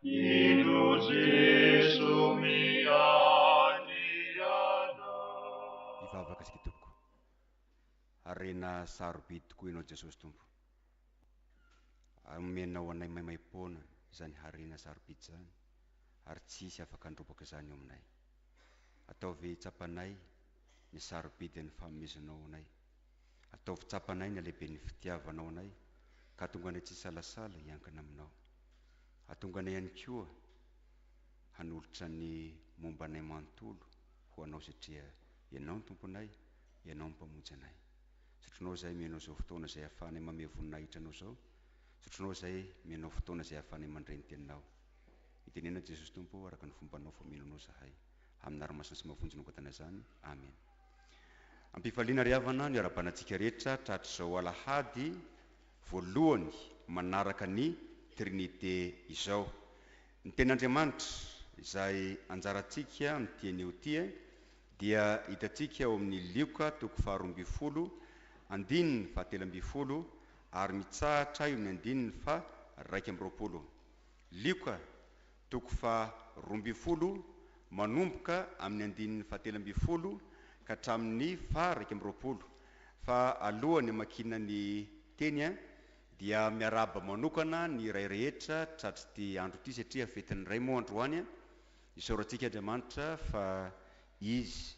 Indro Jeso miandriana. Hivavaka isika tompoko. Harena sarobidy tokoa Ianao Jesosy Tompo. Omenao anay maimaimpoana izany harena sarobidy izany ary tsy hisy afaka handrobaka izany eo aminay. Ataovy hitsapanay ny sarobidin'ny fahameziznao anay. Ataovy tsapanay ny halehiben'ny fitiavanao anay, ka hahatonga anay tsy hisalasala hiankina aminao. Hahatonga anay ihany koa hanolotra ny momba anay manontolo ho anao satria Ianao no Tomponay, Ianao no Mpamonjy anay. Zotronao izahay mihaino izao fotoana izay ahafahanay mamehy voninahitra Anao izao. Zotronao izahay mihaino fotoana izay ahafahanay mandre ny Teninao. Mitenena, Jesosy Tompo, araka ny fombanao fa mino Anao izahay. Amin'ny anarana masina sy mahavonjy no angatahina izany. Amena. Am-pifaliana ry havana ny ara-banatsika rehetra tratr'izao alahady voalohany manaraka ny Trinite izao. Ny Tenin'Andriamanitra, izay anjarantsika amin'ity anio ity, dia hitantsika ao amin'ny Lioka toko faharoa ambin'ny folo, andininy fahatelo ambin'ny folo ary mitsahatra eo amin'ny andininy faha-raika amby roapolo. Lioka Toko faha roa ambin'ny folo, manomboka amin'ny andininy fahatelo ambin'ny folo ka hatramin'ny faha iraika amby roapolo. Fa alohan'ny hamakiana ny teny dia miarahaba manokana ny iray rehetra tratr'ity andro ity satria fetin'ny Ray moa androany. Isaorantsika Andriamanitra fa Izy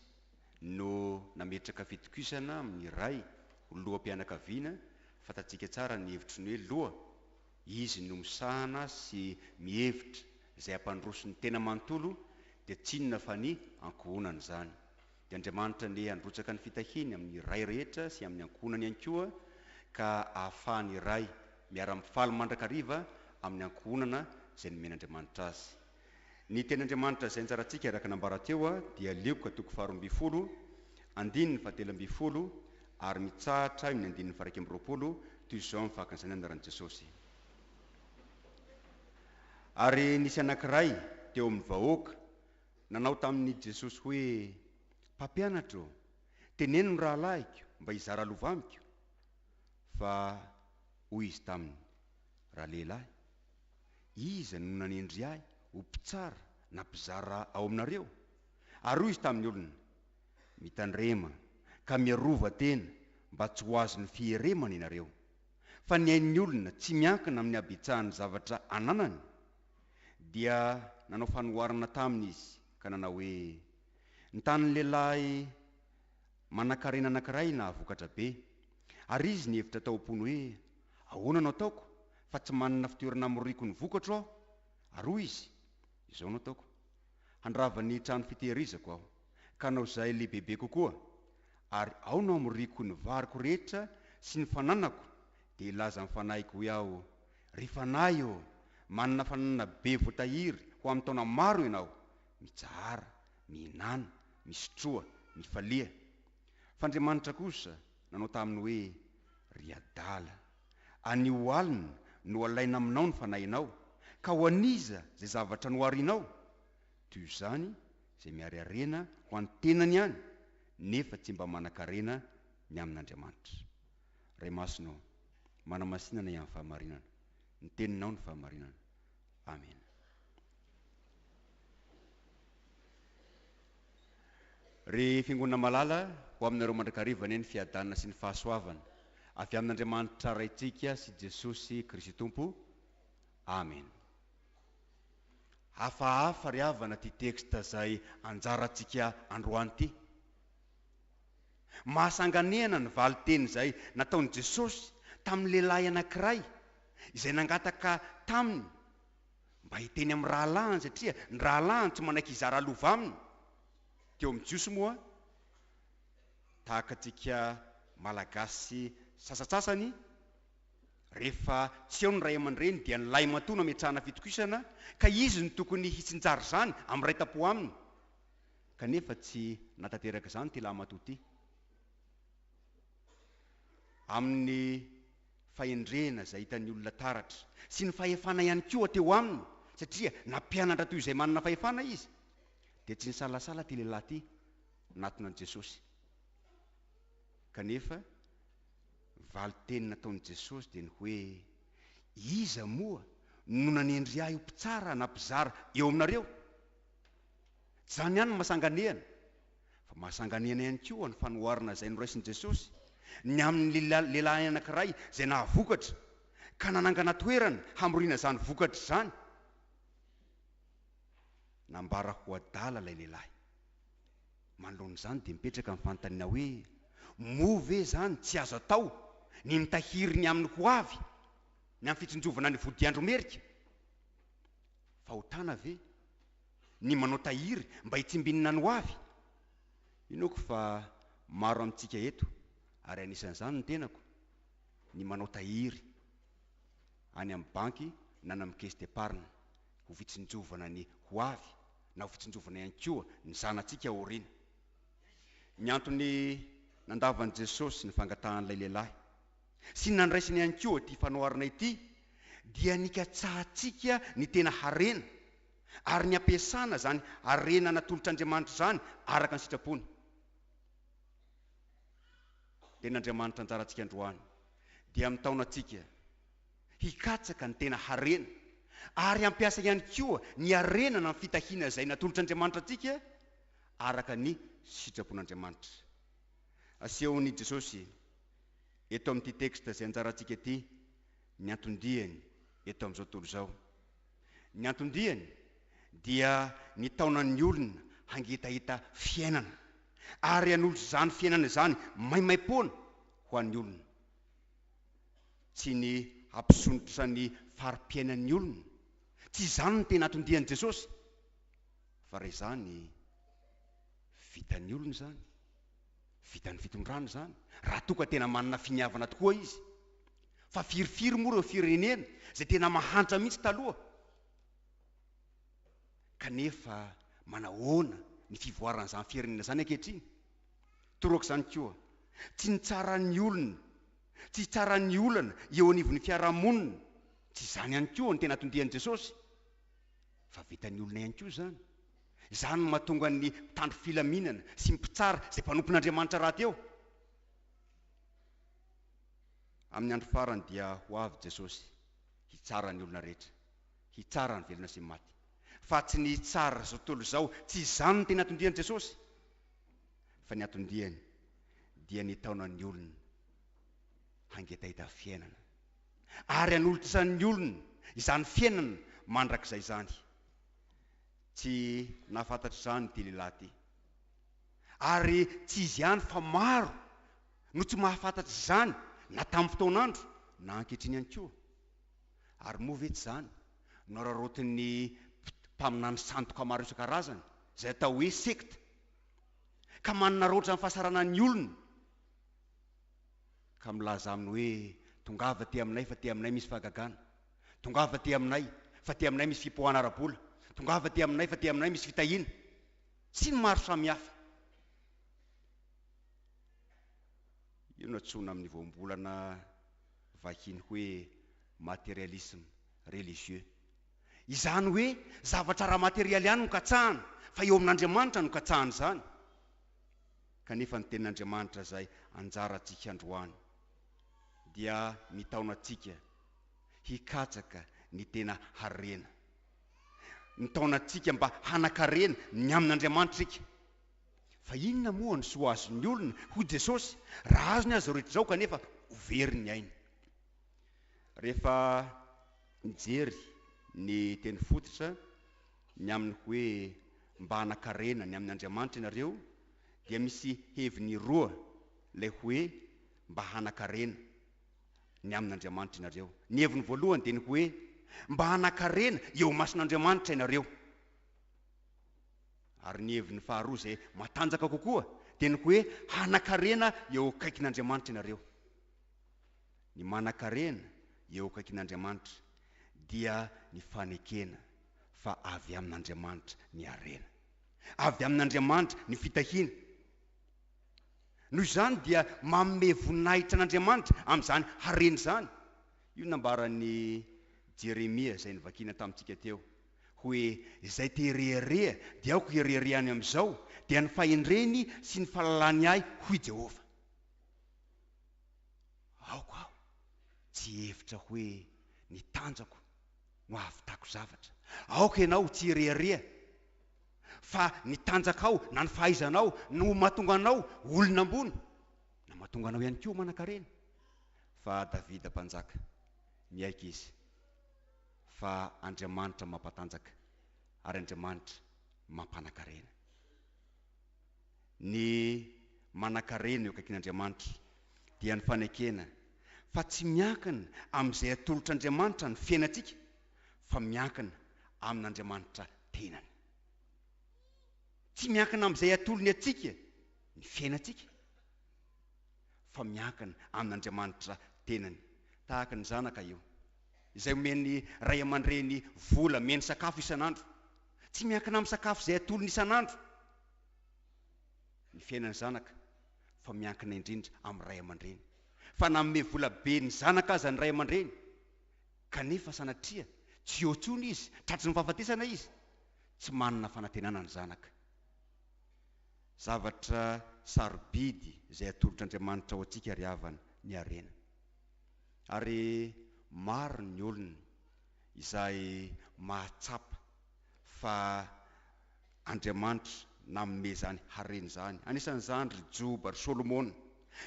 no nametraka fitokisana amin'ny Ray ho loham-pianakaviana, fantatsika tsara ny hevitry ny hoe loha. Izy no misahana sy mihevitra izay hampandroso ny tena manontolo dia tsy inona fa ny ankohonany izany. Dia Andriamanitra anie handrotsaka ny fitahiany amin'ny Ray rehetra sy amin'ny ankohonany ihany koa ka ahafahan'ny Ray miara-mifaly mandrakariva amin'ny ankohonana izay nomen'Andriamanitra azy. Ny teny Andriamanitra izay nitsarantsika araka nambara teo dia Lioka toko faharoa ambin'ny folo, andininy fahatelo ambin'ny folo ary mitsahatra eo amin'ny andininy faharaika amby roapolo toy izao amin'ny fahakan'izany anaran'i Jesosy. Ary nisy anankiray teo amin'ny vahoaka nanao tamin'i Jesosy hoe, Mpampianatra ô, teneno ny rahalahiko mba hizara lova amiko. Fa hoy izy taminy, Ralehilahy, Iza no nanendry ahy ho mpitsara na mpizara ao aminareo? Ary hoy izy tamin'ny olona, Mitandrema ka miarova tena mba tsy ho azon'ny fieremana ianareo. Fa ny ain'ny olona tsy miankina amin'ny habetsahan'ny zavatra ananany. Dia nanao fanoharana taminy izy ka nanao hoe, Ny tanin'ny lehilahy Manankarena anankiray nahavokatra be. Ary izy nihevitra tao am-pony hoe, 'Ahoana no ataoko, fa tsy manana fitoerana hamoriko ny vokatro aho? Ary hoy izy, 'Izao no ataoko. Handrava ny trano fitehirizako aho, ka hanao izay lehibebe kokoa, ary ao no hamoriko ny variko rehetra sy ny fananako, dia hilaza amin'ny fanahiko hoe aho, Ry fanahy ô, manana fananana be voatahiry ho amin'ny taona maro ianao. Mitsahara, mihinana, misotroa, mifalia. F'Andriamanitra kosa nanao taminy hoe, Ry adala, anio alina no alaina aminao ny fanahinao, ka ho an'iza izay zavatra no harianao? Toy izany izay miarearena ho an'ny tenany ihany nefa tsy mba manan-karena ny amin'Andriamanitra. Ray Masina ô, manamasinana ihany fahamarinana, ny Teninao no fahamarinana. Amena. Ry Fiangonana malala, ho aminareo mandrakariva anie ny fiadanana sy ny fahasoavana avy amin'Andriamanitra Raintsika sy Jesosy Kristy Tompo. Amena. Hafahafa ry havana ty texte zay anjarantsika androany ty. Mahasanganehana ny valin-teny izay nataon'i Jesosy tamin'ny lehilahy anankiray izay nangataka Taminy mba hiteny amin'ny rahalahiny satria ny rahalahiny tsy manaiky hizara lova aminy. Teo amin'ny Jiosy moa, tahaka antsika Malagasy sasatsasany, rehefa tsy ao ny ray aman-dreny dia ny lahimatoa no ametrahana fitokisana ka izy no tokony hitsinjara izany amin'ny ray tam-po aminy. kanefa tsy nahatanteraka izany ity lahimatoa ity. Amin'ny fahendrena izay hitan'ny olona taratra sy ny fahefana ihany koa teo aminy, satria nampianatra toy izay manana fahefana izy, dia tsy nisalasala ity lehilahy ity nanatona an'i Jesosy. Kanefa ny valin-teny nataon'i Jesosy dia ny hoe, Iza moa no nanendry ahy ho mpitsara na mpizara eo aminareo? Tsy izany ihany no mahasanganehana, fa mahasanganehana ihany koa ny fanoharana izay noraisin'i Jesosy ny amin'ny lehilahy anankiray izay nahavokatra, ka nanangana toerana hamoriana izany vokatra izany. Nambara ho adala ilay lehilahy. Manoloana izany, dia mipetraka ny fanontaniana hoe, Moa ve izany tsy azo atao ny mitahiry ny amin'ny ho avy, ny amin'ny fitsinjovana ny vodiandro merika? Fahotana ve? ny manao tahiry mba hitsimbinina ny hoavy. Inoako fa maro amintsika eto, ary anisan'izany ny tenako, ny manao tahiry any amin'ny banky na any amin'ny caisse d'epargne ho fitsinjovana ny hoavy na ho fitsinjovana ihany koa ny zanatsika aoriana. Ny antony nandavan'i Jesosy ny fangatahan'ilay lehilahy sy ny nandraisany ihany koa ity fanoharana ity dia nikatsahantsika ny tena harena. ary ny ampiasana izany harena natolotr'Andriamanitra izany araka ny sitrapony, dia n'Andriamanitra anjarantsika androany dia mitaona antsika hikatsaka ny tena harena ary hampiasa ihany koa ny harena na ny fitahiana izay natolotr'Andriamanitra antsika araka ny sitrapon'Andriamanitra asehon'i Jesosy eto amin'ity texte izay anjarantsika ity ny anton-diany eto amin'izao tontolo izao. Ny anton-diany dia nitaona ny olona hangetaheta fiainana ary hanolotra izany fiainana izany maimaim-poana ho an'ny olona. Tsy ny hampisondrotra ny fari-piainan'ny olona, tsy izany no tena anton-dian'i Jesosy, fa raha izany, vitan'ny olona izany, vitan'ny fitondrana izany, raha toa ka tena manana finiavana tokoa izy. Fa firy firy moa ireo firenena izay tena mahantra mihitsy taloha? Kanefa manahoana ny fivoaran'izany firenena izany ankehitriny? Torak'izany koa, tsy ny tsaran'ny olona, tsy ny tsaran'ny olana eo anivon'ny fiarahamonina, tsy izany ihany koa no tena atondian'i Jesosy, fa vitan'ny olona ihany koa izany. Izany no mahatonga ny mpitandro filaminana sy ny mpitsara izay mpanompon'Andriamanitra rahateo. Amin'ny andro farany dia ho avy Jesosy hitsara ny olona rehetra, hitsara ny velona sy ny maty. Fa tsy ny hitsara izao tontolo izao, tsy izany no tena atondian'i Jesosy. Fa ny atondiany dia ny hitaona ny olona hangetaheta fiainana, ary hanolotran'ny olona izany fiainana mandrakizay izany. Tsy nahafantatra izany ity lehilahy ity, ary tsy izy ihany fa maro no tsy mahafantatra izany na tamin'ny fotoan'andro na ankehitriny ihany koa. Ary moa ve tsy izany no araraotin'ny mpaminany sandoka maro isan-karazany, izay atao hoe sekta, ka manaraotra ny fahasaranan'ny olona, ka milaza aminy hoe, Tongava aty aminay fa aty aminay misy fahagagana. Tongava aty aminay fa aty aminay misy fipoahana ara-bola. Tongava aty aminay fa aty aminay misy fitahiana. Sy ny maro samihafa. Io no antsoina amin'ny voambolana vahiny hoe materialisme religieux. Izany hoe zavatra ara-materialy ihany no katsahana, fa eo amin'Andriamanitra no katsahana izany. Kanefa ny Tenin'Andriamanitra izay anjarantsika androany dia mitaona antsika hikatsaka ny tena harena. Mitaona antsika mba hanan-karena ny amin'Andriamanitra isika. Fa inona moa no soa azon'ny olona, hoy Jesosy, raha azony aza ireo rehetra izao kanefa ho very ny ainy? Rehefa mijery ny teny fototra, ny amin'ny hoe mba hanan-karena ny amin' Andriamanitra ianareo, dia misy heviny roa ilay hoe mba hanan-karena ny amin' Andriamanitra ianareo. Ny heviny voalohany dia ny hoe mba hanan-karena eo imason'Andriamanitra ianareo. Ary ny heviny faharoa izay matanjaka kokoa dia ny hoe hanan-karena eo akaikin'Andriamanitra ianareo. Ny manan-karena eo akaikin'Andriamanitra dia ny fanekena fa avy amin'Andriamanitra ny harena. Avy amin'Andriamanitra ny fitahiana. Noho izany dia manome voninahitra an'Andriamanitra amin'izany harena izany. Io nambaran'i Jeremia izay novakina tamintsika teo. Hoe izay te hirehareha dia aoka hireharehany amin'izao, dia ny fahendreny sy ny fahalalany ahy, hoy i Jehovah. Aoka aho tsy hihevitra hoe ny tanjako no hahavitako zavatra. Aoka ianao tsy hirehareha fa ny tanjakao na ny fahaizanao no ho mahatonga anao ho olona ambony, na mahatonga anao ihany koa ho manan-karena. Fa Davida Mpanjaka, miaiky izy. Fa Andriamanitra mampatanjaka ary Andriamanitra mampanakarena. Ny manakarena eo akaikin'Andriamanitra dia ny fanekena fa tsy miankina amin'izay atolotr'Andriamanitra ny fiainantsika fa miankina amin'Andriamanitra tenany. Tsy miankina amin'izay atolony antsika ny fiainantsika fa miankina amin'Andriamanitra tenany. Tahaka ny zanaka io. izay omen'ny ray aman-dreny vola mihaino sakafo isan'andro, tsy miankina amin'ny sakafo izay atolony isan'andro ny fiainan'ny zanaka fa miankina indrindra amin'ny ray aman-dreny. Fa nanome vola be ny zanaka aza ny ray aman-dreny, kanefa sanatria tsy eo intsony izy, tratry ny fahafatesana izy, tsy manana fanantenana ny zanaka. Zavatra sarobidy izay atolotr'Andriamanitra ho antsika ry havana, ny harena. Ary maro ny olona izay mahatsapa fa Andriamanitra nanome izany harena izany, anisan'izany ry Joba, ry Solomona,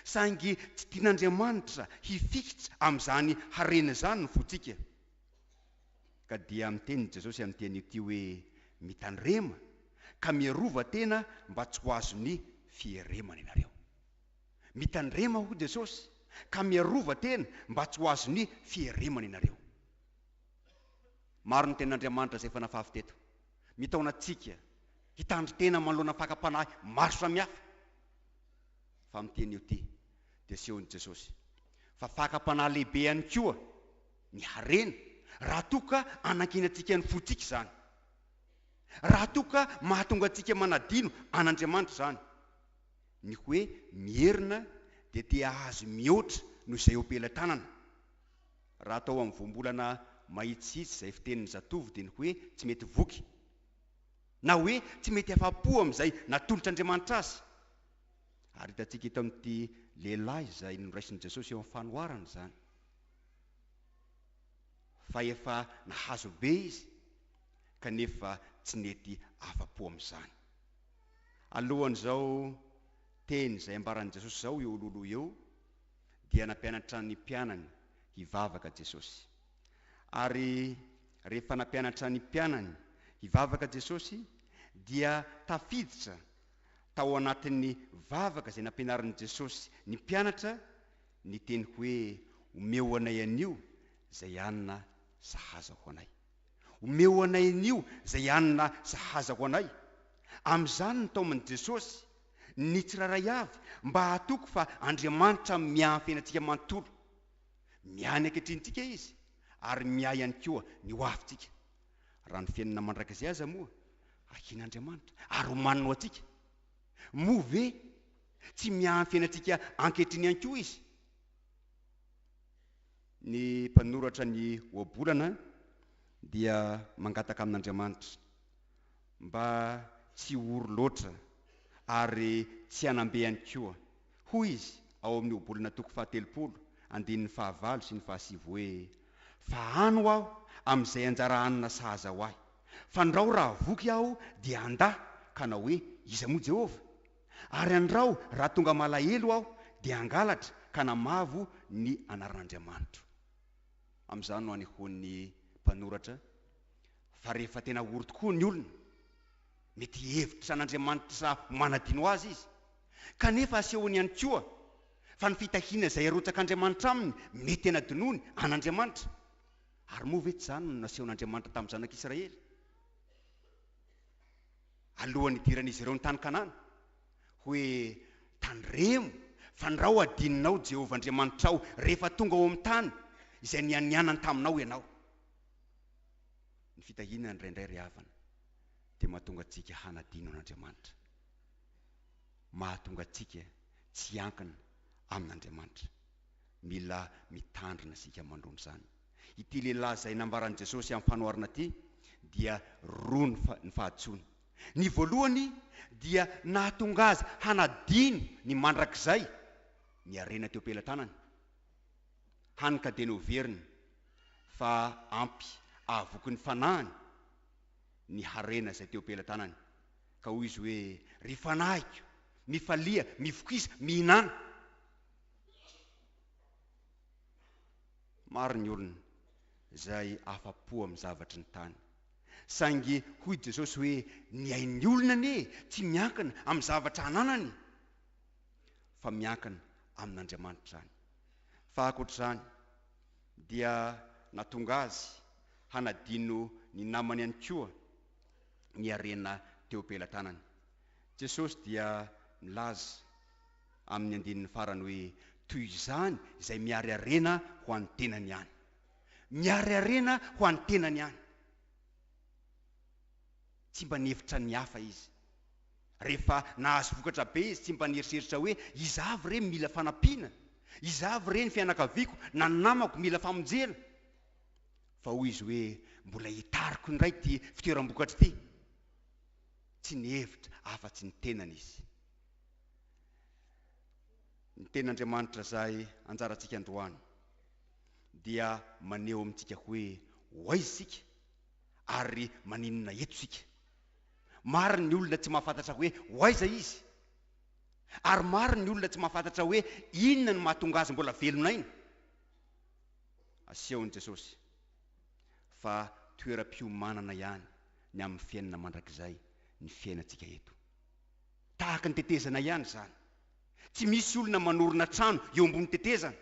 saingy tsy tian'Andriamanitra hifikitra amin'izany harena izany ny fontsika. Ka dia miteny i Jesosy amin'ity anio ity hoe, Mitandrema ka miarova tena mba tsy ho azon'ny fieremana ianareo. Mitandrema hoy Jesosy ka miarova tena mba tsy ho azon'ny fieremana ianareo. Maro ny tenin'Andriamanitra izay efa nafafy teto. Mitaona antsika hitandry tena manoloana fakam-panahy maro samihafa. Fa amin'ity anio ity dia asehon'i Jesosy fa fakam-panahy lehibe ihany koa ny harena raha toa ka anankinantsika ny fontsika izany. Raha toa ka mahatonga antsika manadino an'Andriamanitra izany. Ny hoe mierona dia te hahazo mihoatra noho izay eo am-pelatanana. Raha atao amin'ny voambolana mahitsihitsy izay fitenin'ny zatovo dia ny hoe tsy mety voky na hoe tsy mety afa-po amin'izay natolotr'Andriamanitra azy. Ary hitantsika eto amin'ity lehilahy izay noraisin'i Jesosy eo amin'ny fanoharana izany fa efa nahazo be izy kanefa tsy nety afa-po amin'izany. Alohan'izao teny izay ambaran'i Jesosy izao eo Loloy eo dia nampianatra ny mpianany hivavaka Jesosy. Ary rehefa nampianatra ny mpianany hivavaka Jesosy dia tafiditra tao anatin'ny vavaka izay nampianarin'i Jesosy ny mpianatra ny teny hoe omeo anay anio izay hanina sahaza ho anay. Omeo anay anio izay hanina sahaza ho anay. Amin'izany ny taomin'i Jesosy, ny tsirairay avy, mba hahatoky fa Andriamanitra miampy antsika manontolo. Miahy ny anketrintsika Izy, ary miahy ihany koa ny ho avintsika. Raha ny fiainana mandrakizay aza moa ahiana Andriamanitra, ary omaniny ho antsika, moa ve tsy miahy ny fiainantsika ankehitriny ihany koa Izy? Ny mpanoratra ny Ohabolana dia mangataka amin'Andriamanitra mba tsy ho ory loatra ary tsy hanam-be ihany koa. Hoy izy ao amin'ny Ohabolana toko fahatelopolo, andininy fahavalo sy ny fahasivy hoe, Fa ano aho amin'izay anjara hanina sahaza ho ahy. Fandrao raha voky aho dia handà, ka hanao hoe, Iza moa Jehovah? Ary andrao raha tonga malahelo aho dia hangalatra ka namavo ny anaran'Andriamanitro. Amin'izany no anehoan'ny mpanoratra fa rehefa tena ory tokoa ny olona, mety hihevitra an'Andriamanitra ho manadino azy izy, kanefa asehony ihany koa fa ny fitahiana izay arotsak'Andriamanitra aminy mety hanadinoany an'Andriamanitra. Ary moa ve tsy izany no nasehon'Andriamanitra tamin'ny zanak'Israely? Alohan'ny hidiran'izy ireo ny tany Kanana, hoe, Tandremo, fa ny rao hadininao, Jehovah Andriamanitrao, rehefa tonga ao amin'ny tany izay nianianany taminao ianao. Ny fitahiana indraindray, ry havana, dia mahatonga antsika hanadino an'Andriamanitra. Mahatonga antsika tsy hiankina amin'Andriamanitra. Mila mitandrina isika mandroana izany. Ity lehilahy izay nambaran'i Jesosy amin'ny fanoharana ity dia roa ny ny fahadisoany. Ny voalohany dia nahatonga azy hanadino ny mandrakizay ny harena teo am-pelatanany, hany ka dia noheveriny fa ampy ahavoky ny fanahiny ny harena izay teo am-pelatanany, ka hoy izy hoe, Ry fanahiko, mifalia, mivokisa, mihinana. Maro ny olona izay afa-po amin'ny zavatry ny tany. Saingy hoy Jesosy hoe ny ain'ny olona anie tsy miankina amin'ny zavatra ananany fa miankina amin'Andriamanitra izany. Fa ankoatra izany dia nahatonga azy hanadino ny namany ihany koa ny harena teo am-pelatanany. Jesosy dia nilaza. amin'ny andininy farany hoe, Toy izany izay miary harena ho an'ny tenany ihany. Miary harena ho an'ny tenany ihany. Tsy mba nihevitra ny hafa izy. Rehefa nahazo vokatra be izy, tsy mba nieritreritra hoe, Iza avy re mila fanampiana? Iza avy re ny fianakaviako na ny namako mila famonjena? Fa hoy izy hoe, Mbola hitariko indray ity fitoeram-bokatra ity. Tsy nihevitra afa-tsy ny tenany izy. Ny Tenin'Andriamanitra izay anjarantsika androany dia maneho amintsika hoe ho aiza isika ary maninona eto isika. Maro ny olona tsy mahafantatra hoe ho aiza izy, ary maro ny olona tsy mahafantatra hoe inona no mahatonga azy mbola velon'aina. Asehon'i Jesosy fa toeram-piomanana ihany ny amin'ny fiainana mandrakizay ny fiainantsika eto. Tahaka ny tetezana ihany izany. Tsy misy olona manorina trano eo ambony tetezana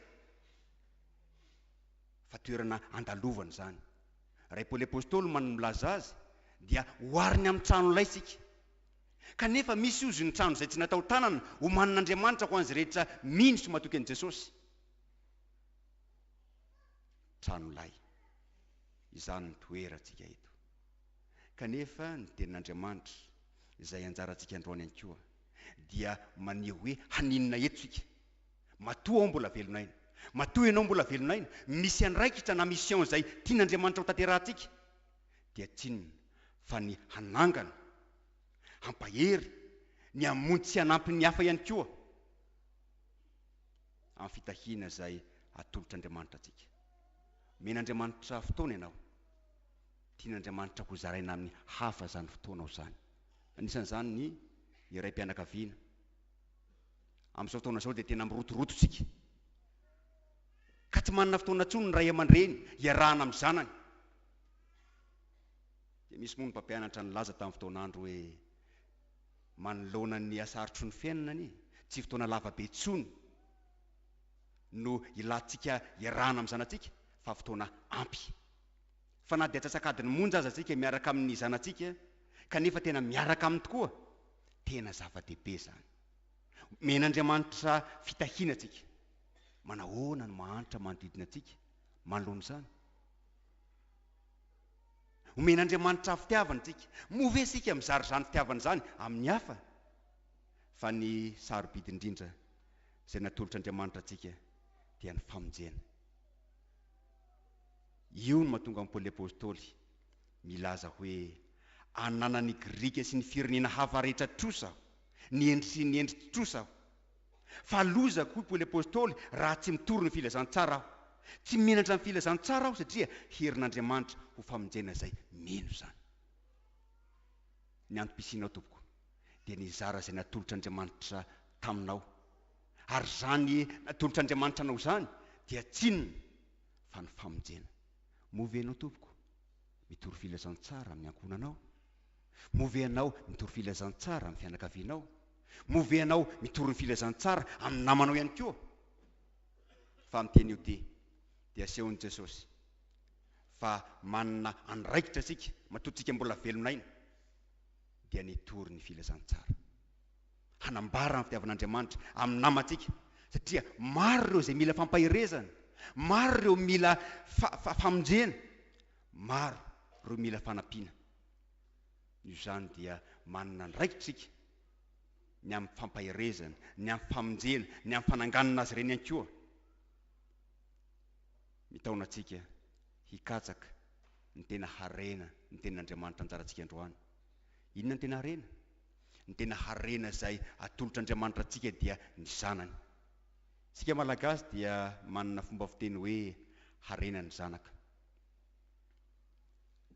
fa toerana andalovana izany. Raha i Paoly Apostoly man no milaza azy dia ohariny amin'ny trano laitsika. Kanefa misy ozy ny trano izay tsy natao tanana omanin'Andriamanitra ho an'izay rehetra mino sy matoky an'i Jesosy. Trano lay. Izany no toerantsika eto. Kanefa ny Tenin'Andriamanitra, izay anjarantsika androany ihany koa, dia maneho hoe haninona eto isika. Matoa aho mbola velona aina, matoa ianao mbola velona aina, misy andraikitra na mission izay tian'Andriamanitra hotanterahantsika, dia tsy inona fa ny hanangana, hampahery, ny hamonjy sy hanampy ny hafa ihany koa amin'ny fitahiana izay atolotr'Andriamanitra antsika. Omen'Andriamanitra fotoana ianao. tian'Andriamanitra hozaraina amin'ny hafa izany fotoanao izany. Anisan'izany ny ny raim-pianakaviana. Amin'izao fotoana izao dia tena mirotoroto isika, ka tsy manana fotoana intsony ny ray aman-dreny hiarahana amin'ny zanany. Dia misy moa ny mpampianatra nilaza tamin'ny fotoan'andro hoe, Manoloana ny hasarotry ny fiainana anie, tsy fotoana lava be intsony no ilantsika hiarahana amin'ny zanatsika, fa fotoana ampy. fa na dia antsasak'adiny monja aza tsika miaraka amin'ny zanatsika kanefa tena miaraka aminy tokoa, tena zava-dehibe izany. Omen'Andriamanitra fitahiana tsika. Manahoana no mahantra manodidina antsika manoloana izany? Omen'Andriamanitra fitiavana tsika. Moa ve isika mizara izany fitiavana izany amin'ny hafa? Fa ny sarobidy indrindra izay natolotr'Andriamanitra antsika dia ny famonjena. Io no mahatonga an'i Paoly Apostoly milaza hoe, Ananan'ny Grika sy ny firenena hafa rehetra trosa aho, ny hendry sy ny hendry tsy trosa aho. Fa lozako, hoy Paoly Apostoly, raha tsy mitory ny filazantsara aho. Tsy menatra ny filazantsara aho satria herin'Andriamanitra ho famonjena izay mino izany. Ny antom-pisianao, tompoko, dia nizara izay natolotr'Andriamanitra taminao. Ary izany natolotr'Andriamanitra anao izany dia tsinona. fa ny famonjena. Moa ve ianao tompoko mitory filazantsara amin'ny ankohonanao? Moa ve ianao mitory filazantsara amin'ny fianakavianao? Moa ve ianao mitory ny filazantsara amin'ny namanao ihany koa? Fa amin'ny teny io tia dia asehon'i Jesosy fa manana andraikitra isika matoa tsika mbola velon'aina dia ny hitory ny filazantsara. hanambara ny fitiavan'Andriamanitra amin'ny namantsika, satria maro ireo izay mila fampaherezana, maro ireo mila fa, famonjena, maro ireo mila fanampiana. Noho izany dia manana andraikitra isika ny amin'ny fampaherezana, ny amin'ny famonjena, ny amin'ny fananganana azy ireny ihany koa. Mitaona antsika hikatsaka ny tena harena, ny tenin'Andriamanitra anjarantsika androany. Inona ny tena harena? Ny tena harena izay atolotr'Andriamanitra antsika dia ny Zanany. Isika Malagasy dia manana fomba fiteny hoe harena ny zanaka.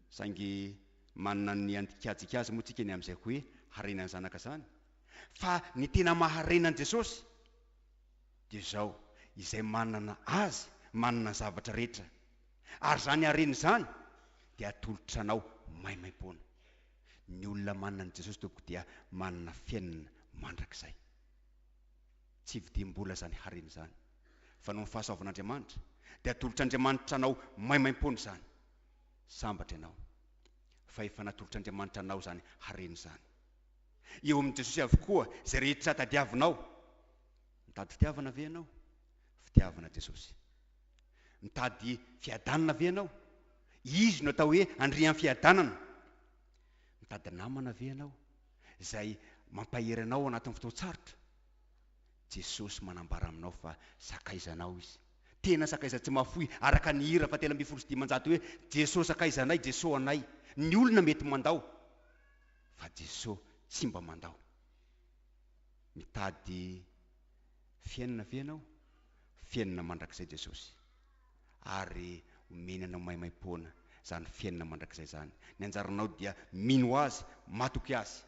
Saingy manana ny andikajika azy moa tsika ny amin'izay hoe harena ny zanaka izany. Fa ny tena maha-harena an'i Jesosy dia izao, izay manana Azy, manana ny zavatra rehetra. Ary izany harena izany dia atolotranao maimaimpoana. Ny olona manana an'i Jesosy Tompoko dia manana fiainana mandrakizay. Tsy vidim-bola izany harena izany, fa noho ny fahasoavan'Andriamanitra, dia atolotr'Andriamanitra anao maimaimpoana izany. Sambatra ianao, fa efa natolotr'Andriamanitra anao izany harena izany. Eo amin'i Jesosy avokoa izay rehetra tadiavinao. Mitady fitiavana ve ianao? Fitiavana Jesosy. Mitady fiadanana ve ianao? Izy no atao hoe andrian'ny fiadanana. Mitady namana ve ianao izay mampahery anao ao anatin'ny fotoan-tsarotra? Jesosy manambara aminao fa sakaizanao Izy. Tena sakaiza tsy mahafoy araka ny hira fahatelo ambin'ny folo sy dimanjato hoe, Jeso sakaizanay, Jeso anay. Ny olona mety mandao fa Jeso tsy mba mandao. Mitady fiainana ve ianao? fiainana mandrakizay Jesosy ary omeny anao maimaimpoana izany fiainana mandrakizay izany. Ny anjaranao dia mino Azy, matoky Azy.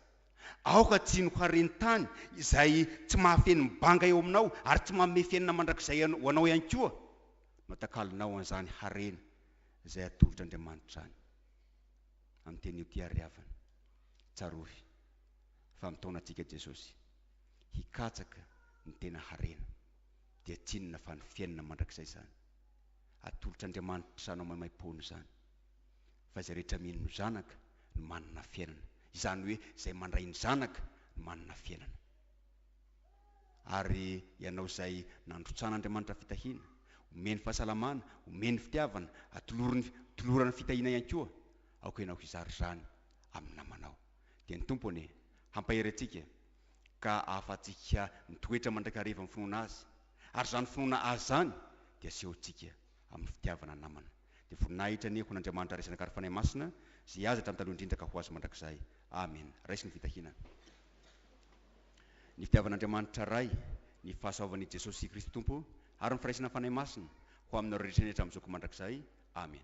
Aoka tsy noharin-tany izay tsy mahafeno ny banga eo aminao ary tsy manome fiainana mandrakizay ho anao ihany koa no atakalonao an'izany harena izay atolotr' Andriamanitra any. Amin'ny teny io Tiariavana, tsarovy fa mitaona antsika Jesosy. hikatsaka ny tena harena, dia tsinona fa ny fiainana mandrakizay izany. Atolotr'Andriamanitra anao maimaim-poana izany. Fa izay rehetra mino ny Zanaka no manana fiainana, izany hoe izay mandray ny Zanaka no manana fiainana. Ary ianao izay nandrotsan'Andriamanitra fitahiana, omeny fahasalamana, omeny fitiavana, atoloriny, tolorany fitahiana ihany koa, aoka ianao hizara izany amin'ny namanao. dia ny Tompo anie hampahery antsika ka ahafahantsika mitoetra mandrakariva amin'ny finoana Azy, ary izany finoana Azy izany dia asehontsika amin'ny fitiavana namana. Dia voninahitra anie ho an'Andriamanitra Ray Zanaka ary Fanahy Masina, izay azy hatramin'ny taloha indrindra ka ho azy mandrakizay. Amen. Raiso ny fitahiana, ny fitiavan'Andriamanitra Ray, ny fahasoavan'i Jesosy Kristy Tompo ary ny firaisan'ny Fanahy Masina ho aminareo rehetra ny hatramin'izao ka mandrakizay. Amen.